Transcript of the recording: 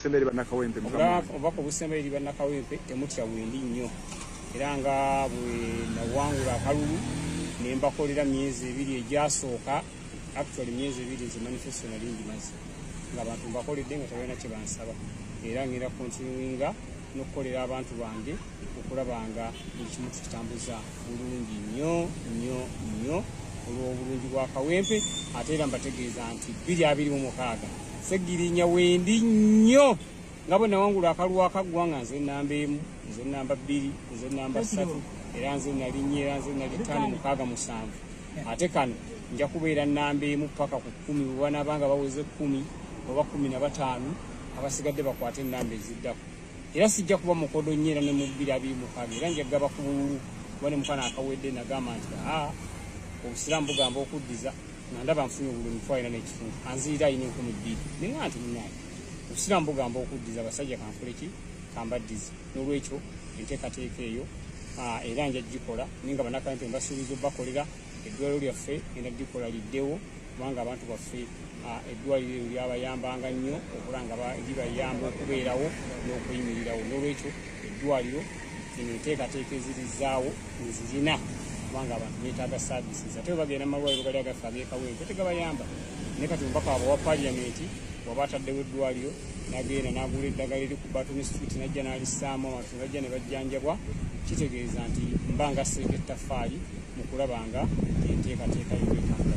Semba eri bannakawempe mukama obubaka obusemba eri bannakawempe temutya wendi nnyo era nga bwe nawangula akalulu ne mbakolera myezi ebiri egyasooka actually myezi ebiri nze manifesto nali ngimaze nga abantu mbakoledde nga tebalina kye bansaba era ngenda kontinuinga n'okukolera abantu bange okulaba nga buli kimu tukitambuza bulungi nnyo nnyo nnyo olw'obulungi bwa kawempe ate era mbategeeza nti bbiri abiri mu mukaaga segirinya wendi nnyo nga bwe nawangula akalwa akaggwa nga nze namba emu nze namba bbiri nze namba ssatu era nze nalinnya era nze nali ttaano mukaaga musanvu ate kano nja kubeera namba emu paka ku kkumi bwe banaaba nga baweze kkumi oba kkumi na bataano abasigadde bakwate enamba eziddako era sijja kuba mukodo nnyo era ne mu bbiri abiri mukaaga era nja kugaba ku bululu kuba ne mukana akawedde nagamba nti aa obusiraamu bugamba okuddiza nga ndaba nfunye obululu mitwa ina n'ekitundu anziyira ayina enkumi bbiri nenga nti munaye obusiraamu bugamba okuddiza abasajja kanfule ki kambaddize n'olwekyo enteekateeka eyo era nja gikola naye nga banakampi mbasuubiza obakolera eddwaliro lyaffe era likola liddewo kubanga abantu baffe eddwaliro eryo lyabayambanga nnyo okula nga libayamba okubeerawo n'okuyimirirawo n'olwekyo eddwaliro eno enteekateeka ezirizaawo nzirina kubanga abantu betaaga saavisi ate webagenda mu malwaliro gali agaffe ag'ekawempe tegabayamba naye kati omubaka wabwe wa paliyamenti waba ataddewo eddwaliro nagenda nagula eddagala eri ku batoni street najja nalisaamu ne bajja ne bajjanjabwa kitegeeza nti mba nga seeka ettaffaali mu kulaba nga enteekateeka yobwekanga